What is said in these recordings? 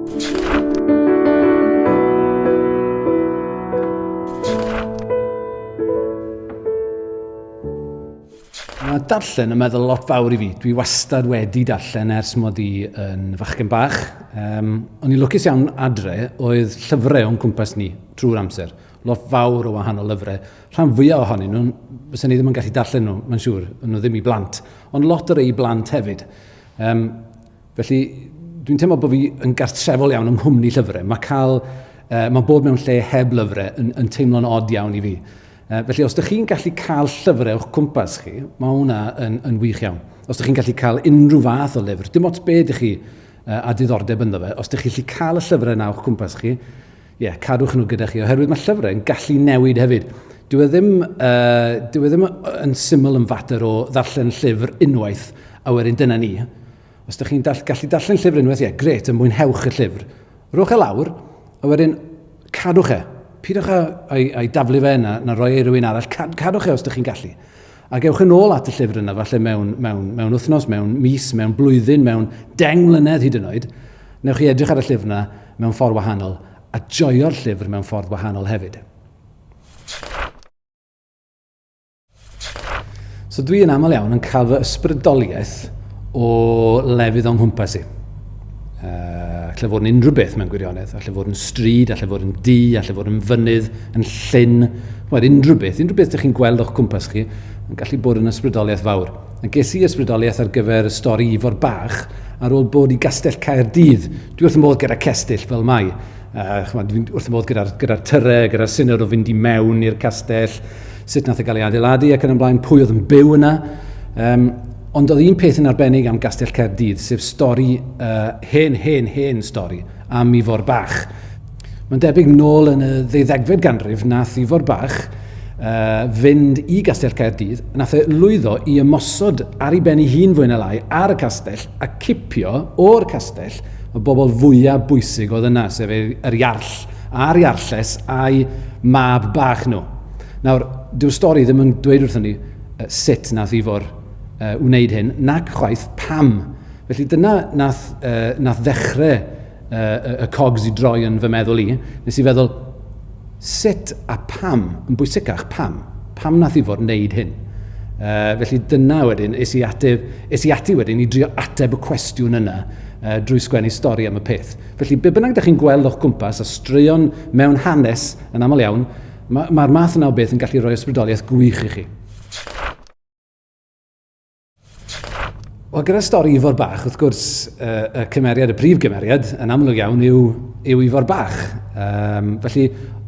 Mae darllen yn meddwl lot fawr i fi. Dwi wastad wedi darllen ers mod i yn fachgen bach. Um, o'n i'n lwcus iawn adre oedd llyfrau o'n cwmpas ni trwy'r amser. Lot fawr o wahanol lyfrau. Rhan fwyaf ohonyn nhw, fysa ni ddim yn gallu darllen nhw, mae'n siŵr, nhw ddim i blant. Ond lot o rei i blant hefyd. Um, Felly, dwi'n teimlo bod fi yn gartrefol iawn yng nghwmni llyfrau. Mae cael, uh, mae bod mewn lle heb lyfrau yn, yn teimlo'n od iawn i fi. Uh, felly, os ydych chi'n gallu cael llyfrau o'ch cwmpas chi, mae hwnna yn, yn wych iawn. Os ydych chi'n gallu cael unrhyw fath o lyfr, dim ots be ydych chi uh, a diddordeb ynddo fe, os ydych chi'n gallu cael y llyfrau yna o'ch cwmpas chi, Ie, cadwch nhw gyda chi, oherwydd mae llyfrau yn gallu newid hefyd. Dyw e ddim, uh, dyw e ddim yn syml yn fater o ddarllen llyfr unwaith a wedyn dyna ni. Os ydych chi'n dall, gallu darllen llyfr unwaith, ie, gret, yn mwynhewch y llyfr. Rwch e lawr, a wedyn cadwch e. Pidwch â, â'i, â'i daflu fe na, na roi e i rywun arall. Cad, cadwch e os ydych chi'n gallu. Ac ewch yn ôl at y llyfr yna, falle mewn, mewn, mewn wythnos, mewn mis, mewn blwyddyn, mewn deng mlynedd hyd yn oed, newch chi edrych ar y llyfr yna mewn ffordd wahanol, a joio'r llyfr mewn ffordd wahanol hefyd. So dwi yn aml iawn yn cael fy ysbrydoliaeth o lefydd o'n nghwmpas i. Uh, lle fod yn unrhyw beth mewn gwirionedd, a lle fod yn stryd, a lle fod yn du, a lle fod yn fynydd, yn llyn, wel, unrhyw beth, unrhyw beth ydych chi'n gweld o'ch cwmpas chi, yn gallu bod yn ysbrydoliaeth fawr. A ges i ysbrydoliaeth ar gyfer y stori Ifor Bach ar ôl bod i Gastell Caerdydd. Dwi wrth y modd gyda cestyll fel mai. Uh, chymod, dwi'n wrth y modd gyda'r gyda tyre, gyda'r syniad o fynd i mewn i'r castell, sut nath e gael ei adeiladu ac yn ymlaen, pwy oedd yn byw yna. Um, Ond oedd un peth yn arbennig am Gastell Caerdydd, sef stori, uh, hen, hen, hen stori, am Ifor Bach. Mae'n debyg nôl yn y ddeuddegfed ganrif nath Ifor Bach uh, fynd i Gastell Caerdydd, nath e lwyddo i ymosod ar ei ben ei hun fwy na lai ar y castell a cipio o'r castell y bobl fwyaf bwysig oedd yna, sef yr iarll a'r iarlles a'i mab bach nhw. Nawr, dyw'r stori ddim yn dweud wrthyn ni sut nath Ifor yy wneud hyn, nac chwaith pam. Felly dyna nath, uh, nath ddechrau uh, y cogs i droi yn fy meddwl i. Nes i feddwl, sut a pam, yn bwysicach, pam? Pam nath Ifor wneud hyn? Uh, felly dyna wedyn, es i, ateb, es i ati wedyn i drio ateb y cwestiwn yna uh, drwy sgwennu stori am y peth. Felly, be bynnag ydych chi'n gweld o'ch gwmpas a straeon mewn hanes yn aml iawn, Mae'r ma math yna o beth yn gallu rhoi ysbrydoliaeth gwych i chi. Wel, gyda stori Ifor Bach, wrth gwrs, uh, y cymeriad, y prif gymeriad, yn amlwg iawn yw, yw Ifor Bach. Um, felly,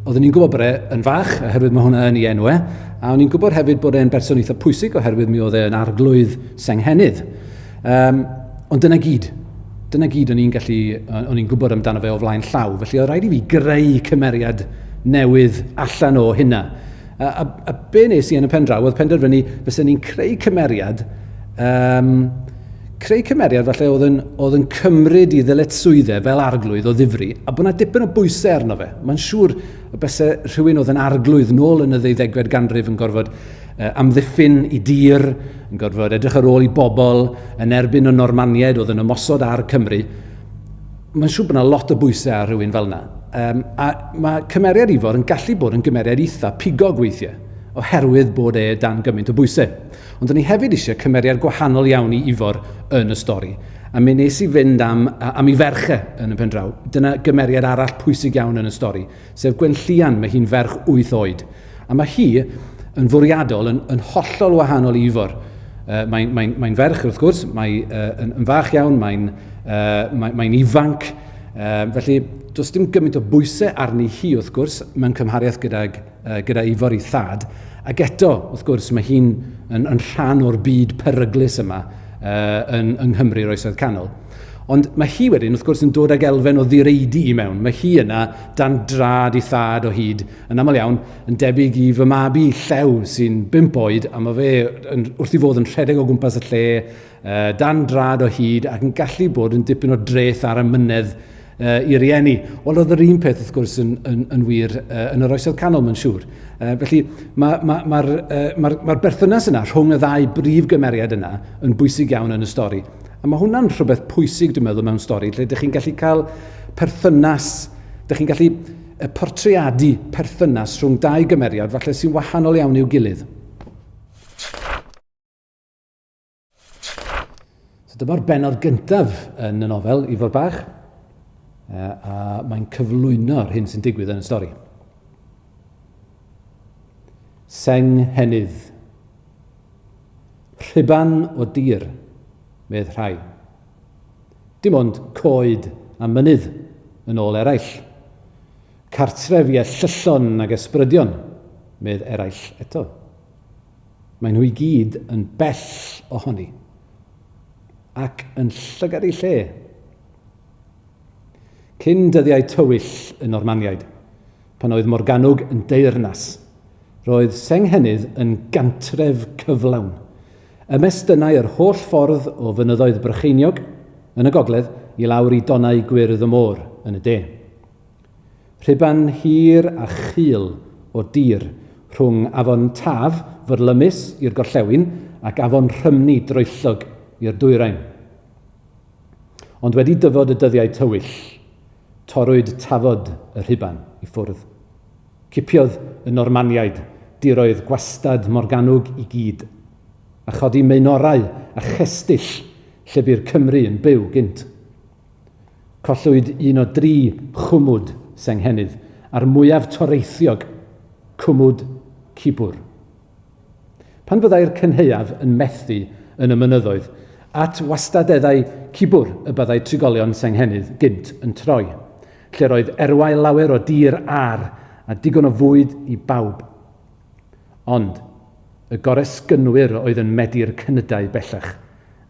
oeddwn i'n gwybod bod e yn fach, oherwydd mae hwnna yn ei enw e, a o'n i'n gwybod hefyd bod e'n berson eitha pwysig, oherwydd mi oedd e'n arglwydd Senghennydd. Um, ond dyna gyd. Dyna gyd o'n i'n gallu, o'n i'n gwybod amdano fe o flaen llaw. Felly oedd rhaid i fi greu cymeriad newydd allan o hynna. A, a, a be nes i yn y pen draw oedd penderfynu fysa ni'n creu cymeriad, um, creu cymeriad falle oedd yn, oedd yn cymryd i ddyletswyddau fel arglwydd o ddifri, a bod yna dipyn o bwysau arno fe. Mae'n siŵr y bysau rhywun oedd yn arglwydd nôl yn y ddeuddegfed ganrif yn gorfod amddiffyn i dir, yn gorfod edrych ar ôl i bobl yn erbyn y Normaniaid oedd yn ymosod ar Cymru. Mae'n siŵr bod yna lot o bwysau ar rhywun fel yna. Um, a mae cymeriad Ifor yn gallu bod yn gymeriad eitha pigog weithiau, oherwydd bod e dan gymaint o bwysau. Ond o'n i hefyd eisiau cymeriad gwahanol iawn i Ifor yn y stori. A mi nes i fynd am, am i ferche yn y pen draw. Dyna gymeriad arall pwysig iawn yn y stori. sef Gwenllian, mae hi'n ferch wyth oed, a mae hi yn fwriadol yn, yn hollol wahanol i Ifor. Uh, mae'n mae mae ferch, wrth gwrs, mae'n uh, yn, yn fach iawn, mae'n uh, mae, mae ifanc, uh, felly does dim gymaint o bwysau arni hi, wrth gwrs, mewn cymhariaeth gyda, uh, gyda Ifor i thad, ac eto, wrth gwrs, mae hi'n yn, yn rhan o'r byd peryglus yma uh, yn, yng Nghymru'r Oesoedd Canol. Ond mae hi wedyn, wrth gwrs, yn dod ag elfen o ddireidi i mewn. Mae hi yna dan drad i thad o hyd, yn aml iawn, yn debyg i fy mab i llew sy'n bimp oed, a mae fe yn, wrth i fod yn rhedeg o gwmpas y lle, dan drad o hyd ac yn gallu bod yn dipyn o dreth ar y mynedd uh, i rieni. Ond oedd yr un peth wrth gwrs yn, yn, yn wir uh, yn yr oesoedd canol, mae'n siŵr. Uh, felly mae'r ma, ma, ma, uh, ma, ma berthynas yna rhwng y ddau brif gymeriad yna yn bwysig iawn yn y stori. A mae hwnna'n rhywbeth pwysig, dwi'n meddwl, mewn stori, lle ydych chi'n gallu cael perthynas, ydych chi'n gallu y portreadu perthynas rhwng dau gymeriad falle sy'n wahanol iawn i'w gilydd. So dyma'r benod gyntaf yn y nofel, Ifor Bach, a mae'n cyflwyno'r hyn sy'n digwydd yn y stori. Seng henydd. Rhyban o dir, medd rhai. Dim ond coed a mynydd yn ôl eraill. Cartref i ellyllon ag ysbrydion, medd eraill eto. Maen nhw i gyd yn bell ohoni, ac yn llygad eu lle. Cyn dyddiau tywyll y Normaniaid, pan oedd Morgannwg yn deyrnas, roedd Senghennydd yn gantref cyflawn. Ymestynnai yr holl ffordd o fynyddoedd Brycheiniog, yn y gogledd, i lawr i donnau gwyrdd y môr, yn y de. Rhuban hir a chul o dir rhwng afon Taf fyrlymus i'r gorllewin ac afon Rhymni droellog i'r dwyrain. Ond wedi dyfod y dyddiau tywyll, torrwyd tafod y rhuban i ffwrdd. Cipiodd y Normaniaid diroedd gwastad Morgannwg i gyd, a chodi meunorau a chestyll lle bu'r Cymry yn byw gynt. Collwyd un o dri chwmwd Senghennydd a'r mwyaf toreithiog, Cwmwd Cibwr. Pan fyddai'r cynhaeaf yn methu yn y mynyddoedd, at wastadeddau Cibwr y byddai trigolion Senghennydd gynt yn troi, lle'r oedd erwau lawer o dir âr a digon o fwyd i bawb. Ond, y goresgynwyr oedd yn medi'r cnydau bellach,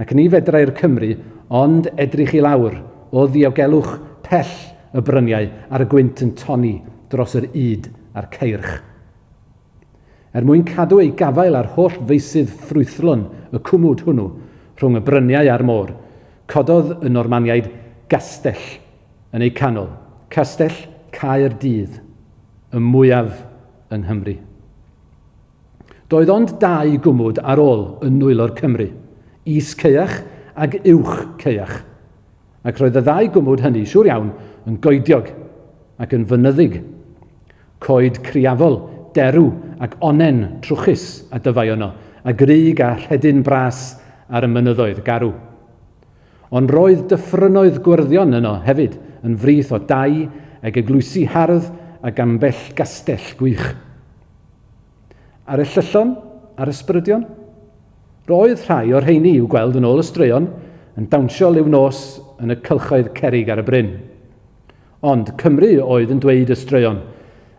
ac ni fedrai'r Cymry ond edrych i lawr o ddiogelwch pell y bryniau a'r gwynt yn tonni dros yr ŷd a'r ceirch. Er mwyn cadw eu gafael ar holl feysydd ffrwythlon y cwmwd hwnnw rhwng y bryniau a'r môr, cododd y Normaniaid gastell yn eu canol, Castell Caer Dydd, y mwyaf yng Nghymru. Doedd ond dau gwmwd ar ôl yn nwylo'r Cymry, Is Caeach ag Uwch Caeach, ac roedd y ddau gwmwd hynny, siŵr iawn, yn goediog ac yn fynyddig. Coed criafol, derw ac onnen trwchus a dyfai yno, a grug a rhedyn bras ar y mynyddoedd garw. Ond roedd dyffrynnoedd gwyrddio'n yno hefyd, yn frith o dai ag eglwysi hardd ac ambell gastell gwych. Ar y Llyllon a'r Ysbrydion? Roedd rhai o'r rheiny i'w gweld yn ôl y straeon yn dawnsio liw nos yn y cylchoedd cerrig ar y bryn. Ond Cymru oedd yn dweud y straeon,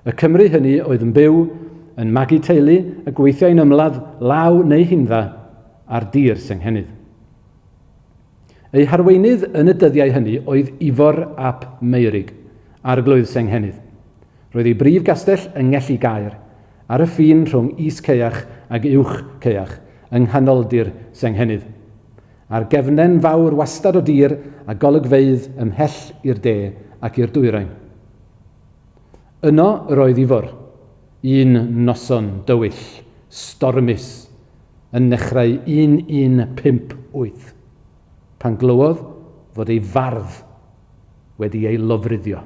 y Cymru hynny oedd yn byw, yn magu teulu a gweithiai'n ymladd law neu hindda ar dir Senghennydd. Eu harweinydd yn y dyddiau hynny oedd Ifor ap Meurig, Arglwydd Senghennydd. Roedd ei brif gastell yng Ngelli Gaer, ar y ffin rhwng Is Caeach ac Uwch Caeach, yng nghanoldir Senghennydd. Ar gefnen fawr wastad o dir a golygfeydd ymhell i'r de ac i'r dwyrain. Yno yr oedd Ifor, un noson dywyll, stormus, yn nechrau 1158, pan glywodd fod ei fardd wedi ei lofruddio.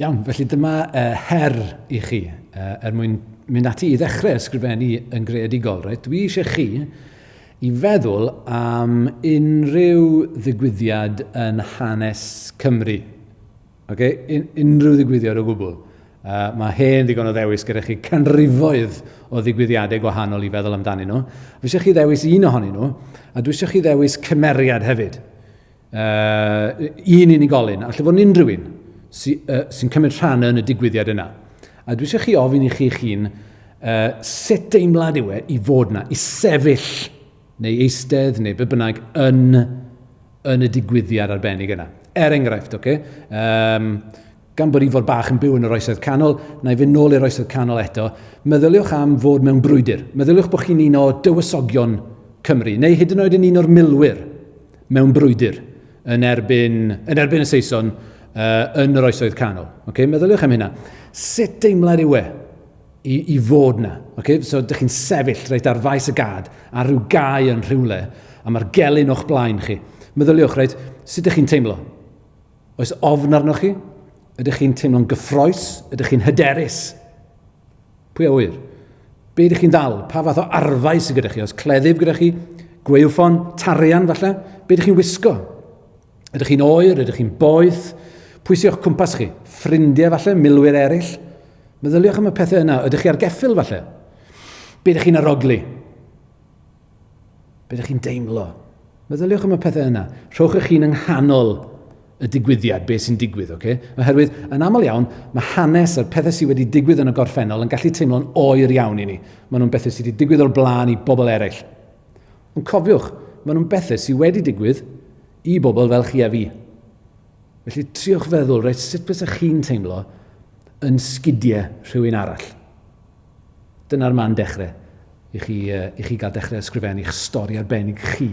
Iawn, felly dyma uh, her i chi uh, er mwyn mynd ati i ddechrau ysgrifennu yn greadigol. Right? Dwi eisiau chi i feddwl am unrhyw ddigwyddiad yn hanes Cymru. Ok, un, unrhyw ddigwyddiad o gwbl. Uh, mae hen ddigon o ddewis gyda chi canrifoedd o ddigwyddiadau gwahanol i feddwl amdanyn nhw. Dwi eisiau chi ddewis un ohonyn nhw, a dwi eisiau chi ddewis cymeriad hefyd. Uh, un unigolyn, a lle fod unrhyw un sy'n sy, uh, sy cymryd rhan yn y digwyddiad yna. A dwi eisiau chi ofyn i chi'ch hun uh, sut deimlad yw e i fod yna, i sefyll neu eistedd, neu be bynnag, yn, yn y digwyddiad arbennig yna. Er enghraifft, oce? Okay? Um, gan bod Ifor Bach yn byw yn yr oesoedd canol, na i fynd nôl i'r oesoedd canol eto, meddyliwch am fod mewn brwydr. Meddyliwch bod chi'n un o dywysogion Cymru, neu hyd yn oed yn un o'r milwyr mewn brwydr yn erbyn, yn erbyn y Saeson uh, yn yr oesoedd canol. Okay? Meddyliwch am hynna. Sut deimlad yw e i, i fod na. Okay? So, dych chi'n sefyll reit, ar faes y gad, ar rhyw gau yn rhywle, a mae'r gelyn o'ch blaen chi. Meddyliwch, reit, sut ydych chi'n teimlo? Oes ofn arnoch chi? Ydych chi'n teimlo'n gyffroes? Ydych chi'n hyderus? Pwy a wyr? Be ydych chi'n ddal? Pa fath o arfau sydd gyda chi? Os cleddyf gyda chi? Gweilfon? Tarian falle? Be ydych chi'n wisgo? Ydych chi'n oer? Ydych chi'n boeth? Pwy sy o'ch cwmpas chi? Ffrindiau falle? Milwyr eraill? Meddyliwch am y pethau yna. Ydych chi ar geffyl falle? Be ydych chi'n arogli? Be ydych chi'n deimlo? Meddyliwch am y pethau yna. Rhowch eich hun yng nghanol y digwyddiad, beth sy'n digwydd, oce? Okay? Oherwydd, yn aml iawn, mae hanes a'r pethau sydd wedi digwydd yn y gorffennol yn gallu teimlo'n oer iawn i ni. Maen nhw'n bethau sydd wedi digwydd o'r blaen i bobl eraill. Ond cofiwch, maen nhw'n bethau sydd wedi digwydd i bobl fel chi a fi. Felly triwch feddwl reit sut fysa chi'n teimlo yn sgidiau rhywun arall. Dyna'r man dechrau i chi, uh, i chi gael dechrau ysgrifennu'ch stori arbennig chi.